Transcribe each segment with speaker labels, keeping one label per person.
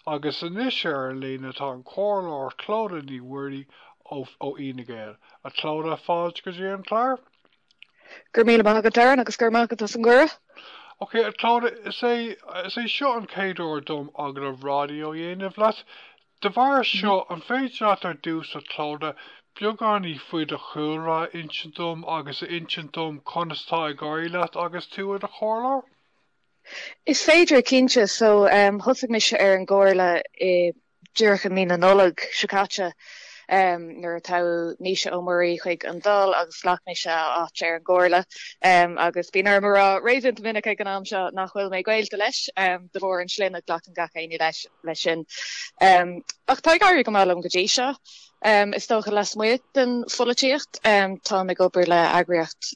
Speaker 1: Agus anois ar an líne tá an Comhairleoir Clodagh Ní Mhuirí ó Fhine Gael. A Clodagh, fáilte go dtí an clár. Go
Speaker 2: raibh míle maith agat, Darren, agus go raibh maith agat as an gcuireadh. Ok, a
Speaker 1: Clodagh, is é is é seo an chéad uair dom agallamh raidió a dhéanamh leat. De bharr seo, an féidir leat ar dtús, a Clodagh, beagáinín faoi do chúlra a insint dom agus a insint dom conas tá ag éirí leat agus tú i do Chomhairleoir?
Speaker 2: Is féidir, cinnte. So, thosaigh mise ar an gcomhairle i, díreach i mí na Nollag seo caite, nuair a toghadh Naoise Ó Muirí chuig an Dáil agus ghlac mise a áit ar an gcomhairle. Agus bíonn orm a rá réasúnta minic ag an am seo, nach bhfuil mé gaolta leis, de bharr an tsloinne glacann gach éinne leis, leis sin. Ach tá ag éirí go maith liom go dtí seo, is dócha, lasmuigh den pholaitíocht. Táim ag obair le eagraíocht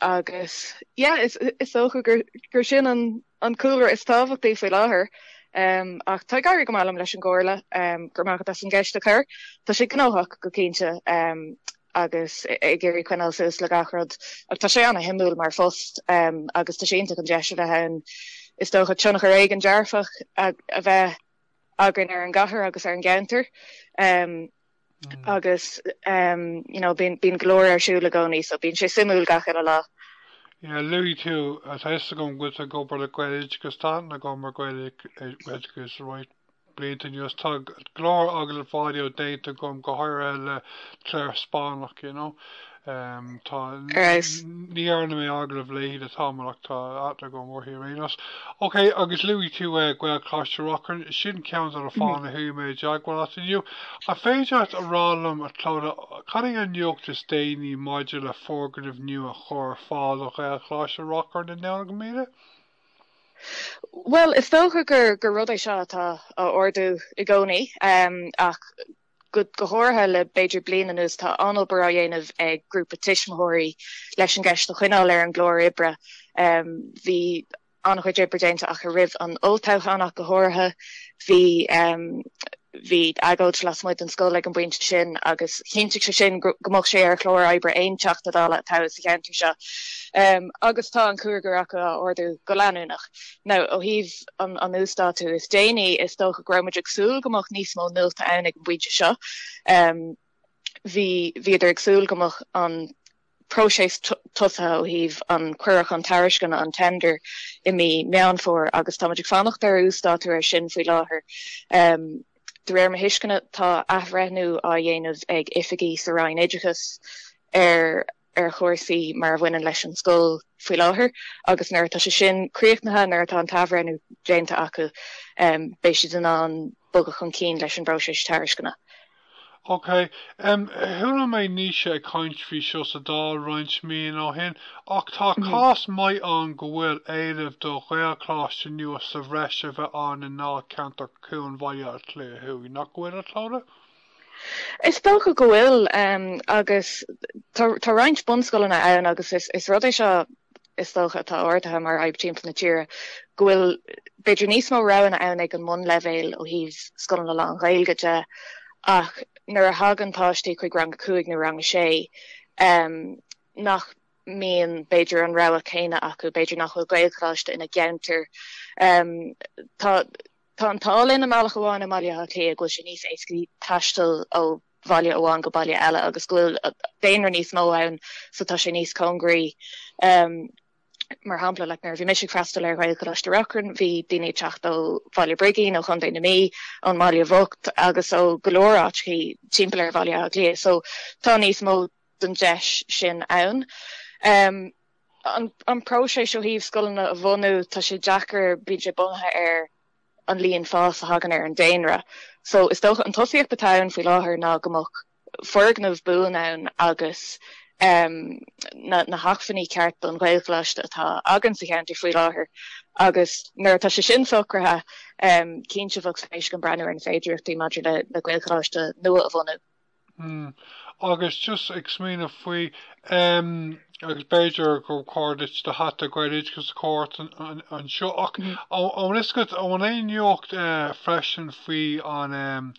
Speaker 2: Agus yeah, is is dócha gur gur sin an an cúlra is tábhachtaí faoi láthair. Ach tá ag éirí go maith liom leis an gcomhairle. Go raibh maith agat as an gceist a chur. Tá sé gnóthach, go cinnte, agus ag iarraidh coinneáil suas le gach rud, ach tá sé an-shuimiúil mar phost, agus tá sé iontach an deis a bheith ann, is dócha, tionchar éigin dearfach a bheith againn ar an gcathair agus ar an gceantar. agus you know bíonn go leor ar siúl i gcónaí so bíonn sé suimiúil gach uile lá. Yeah, luaigh
Speaker 1: tú, tá fhios agam go bhfuil tú ag obair le Gaeloideachas, tá tú ag obair le Gaeloideachas roinnt blianta anuas, tá go leor agallaimh raidió déanta agam go háirithe le Clare Spáinneach, you know. Ar fheabhas. Ní dhearna mé agallamh léi le tamall ach tá aithne agam uirthi anyways. Ok, agus luaigh tú Gaelcholáiste Reachrann, sin ceann de na fáthanna a chuaigh mé i dteagmháil leat inniu. An féidir leat a rá liom, a Clodagh, cad é an nuacht is déanaí maidir le foirgneamh nua a chur ar fáil do Ghaelcholáiste Reachrann i nDomhnach
Speaker 2: Míde? Bhuel, is dócha gur rud é seo atá á ardú i gcónaí, ach Go háirithe le b'fhéidir bliain anuas, tá an-obair á dhéanamh ag grúpa tuismitheoirí leis an gceist a choinneáil ar an gclár oibre. Bhí an-chuid oibre déanta acu roimh an olltoghchán ach go háirithe. Bhí bhí agóid lasmuigh den scoil ag an bpointe sin agus chinntigh sé sin go go mbeadh sé ar chlár oibre aon Teachta Dála a toghadh sa cheantar seo. Agus tá an cúigear acu á ardú go leanúnach. Now ó thaobh an uasdátú is déanaí, is dócha go raibh muid ag súil go mbeadh níos mó nuachta ann ag an bpointe seo. Bhí bhíodar ag súil go mbeadh an próiseas tosaithe ó thaobh an cuireadh chun tairisceana, an tender, i mí Meán Fómhair agus tá muid ag fanacht ar uasdátú air sin faoi láthair. De réir mo thuisceana, tá athbhreithniú á dhéanamh ag oifigigh sa Roinn Oideachais ar ar chúrsaí mar a bhaineann leis an scoil faoi láthair agus nuair atá sé sin críochnaithe, nuair atá an t-athbhreithniú déanta acu, beidh siad in ann bogadh chun cinn leis an bpróiseas tairisceana. Ok.
Speaker 1: Chuala mé Naoise ag caint faoi seo sa Dáil roinnt míonna ó shin, ach tá cás maith ann go bhfuil éileamh do Ghaelcholáiste nua sa bhreis a bheith ann i ndáilcheantar Chuan Bhaile Átha Cliath Thuaidh, nach bhfuil, a Chlodagh?
Speaker 2: Is dócha go bhfuil, agus tá roinnt bunscoileanna ann agus is rud é seo is dócha atá ardaithe mar fhadhb timpeall na tíre, go bhfuil b'fhéidir níos mó roghanna ann ag an mbunleibhéal ó thaobh scoileanna lán-Ghaeilge de ach nuair a thagann páistí chuig rang a cúig nó rang a sé nach mbíonn b'fhéidir an rogha céanna acu, b'fhéidir nach bhfuil Gaelcholáiste ina gceantar. Tá. Tá an t-ádh linn i mbealach amháin i mBaile Átha Cliath go bhfuil sé níos éascaí taisteal ó bhaile amháin go baile eile agus go bhfuil daonra níos mó ann so tá sé níos cóngaraí. Mar shampla, like, nuair a bhí mise ag freastal ar Ghaelcholáiste Reachrann, bhí daoine ag teacht ó Bhaile Brigín, ó Chontae na Mí, ón mBaile Bhocht agus ó go leor áiteachaí timpeall ar Bhaile Átha Cliath so tá níos mó den deis sin ann. an próiseas ó thaobh scoileanna a bhunú, tá sé deacair, bíonn sé bunaithe ar an líon fás a thagann ar an daonra. So is dócha an tosaíocht atá ann faoi láthair ná go mbeadh foirgneamh buan ann agus um na na hacmhainní ceart don Ghaelcholáiste atá againn sa cheantar faoi láthair agus nuair atá sé sin socraithe um, cinnte bheadh spéis againn breathnú ar na féidireachtaí maidir le le Gaelcholáiste nua a bhunú. Hm,
Speaker 1: agus just ag smaoineamh faoi, em, agus b'fhéidir gur chóir duit do hata Gaeloideachas a chur ort anseo, ach an bhfuil fhios agat, an bhfuil aon nuacht freisin faoi an, em,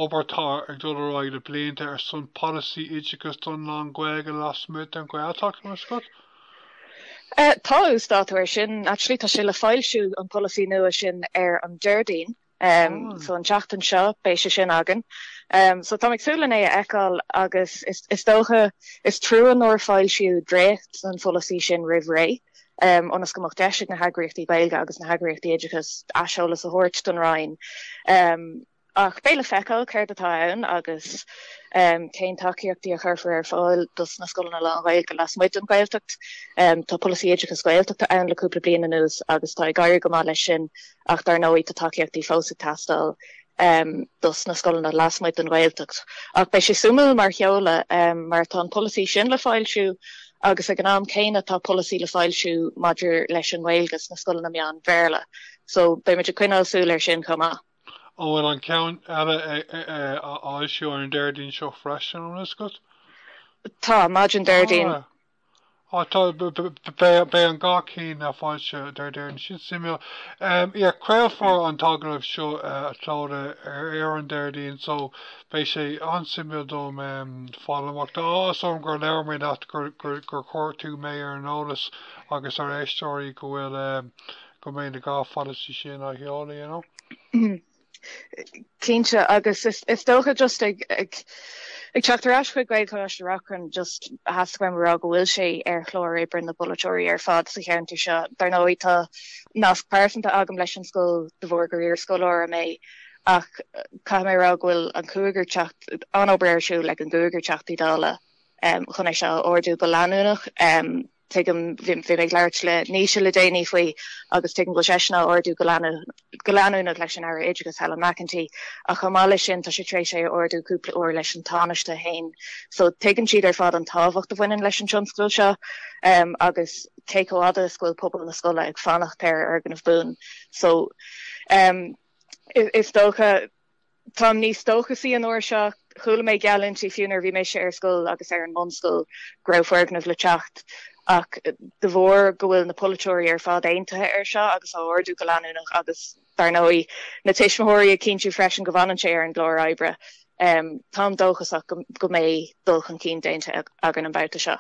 Speaker 1: obair atá ag dul ar aghaidh le blianta ar son polasaí oideachas don lán-Ghaeilge lasmuigh den Ghaeltacht, an bhfuil
Speaker 2: fhios agat? Tá uasdátú air sin. Actually, tá sé le foilsiú, an polasaí nua sin, ar an Déardaoin. So an tseachtain seo beidh sé sin againn. So táim ag súil len é a fheiceáil agus is dócha is trua nár foilsíodh dréacht den pholasaí sin roimh ré ionas go mbeadh deis ag na heagraíochtaí Gaeilge agus na heagraíochtaí oideachais aiseolas a thabhairt don Roinn. Ach beidh le feiceáil céard atá ann agus cén tacaíochtaí a chuirfear ar fáil dos na scoileanna lán-Ghaeilge lasmuigh den Ghaeltacht. Tá polasaí oideachais Gaeltachta ann le cúpla bliain anuas agus tá ag éirí go maith leis sin ach dar ndóigh tá tacaíochtaí fós ag teastáil dos na scoileanna lasmuigh den Ghaeltacht. Ach beidh sé suimiúil mar sheoladh, mar atá an polasaí sin le foilsiú agus ag an am céanna tá polasaí le foilsiú maidir leis an nGaeilge sna scoileanna meán Bhéarla so beimid ag coinneáil súil ar sin chomh maith. An bhfuil
Speaker 1: an ceann eile á fhoilsiú ar an Déardaoin seo freisin, an bhfuil a fhios agat? Tá,
Speaker 2: maidin Déardaoin.
Speaker 1: beidh an dhá cinn á fhoilsiú Déardaoin. Sin suimiúil. Yeah, craolfar an t-agallamh seo Tuatha ar an Déardaoin so beidh sé an-suimiúil dom fáil amach. Tá áthas orm gur labhair mé leat, gur chuir tú mé ar an eolas agus ár n-éisteoirí go bhfuil, go mbeidh na dhá pholasaí sin á sheoladh, you know.
Speaker 2: Cinnte, agus is dócha just ag teacht ar ais chuig Gaelcholáiste Reachrann just theastaigh uaim a rá go bhfuil sé ar chlár oibre na bpolaiteoirí ar fad sa cheantar seo. Dar ndóigh tá nasc pearsanta agam leis an scoil de bharr gur iarscoláire mé ach caithfidh mé a rá go bhfuil an cúigear teacht, an-obair ar siúl ag an gcúigear Teachtaí Dála chun é seo a ardú go leanúnach. Tuigim, bhí mé ag labhairt le Naoise le déanaí faoi agus tuigim go bhfuil seisean á ardú go leanúnach leis an Aire Oideachais Helen McEntee ach chomh maith leis sin tá sé tar éis é a ardú cúpla uair leis an Tánaiste féin so tuigeann siad ar fad an tábhacht a bhaineann leis an tionscadal seo agus cé chomh fhada is go bhfuil pobal na scoile ag fanacht ar fhoirgneamh buan so is dócha Táim níos dóchasaí an uair seo. Chuala mé geallúintí fiú nuair a bhí mise ar scoil agus ar an mbunscoil go raibh foirgneamh le teacht, ach de bharr go bhfuil na polaiteoirí ar fad aontaithe air seo agus á ardú go leanúnach, agus dar ndóigh na tuismitheoirí ag cinntiú freisin go bhfanann sé ar an gclár oibre, táim dóchasach go mbeidh dul chun cinn déanta againn an babhta seo.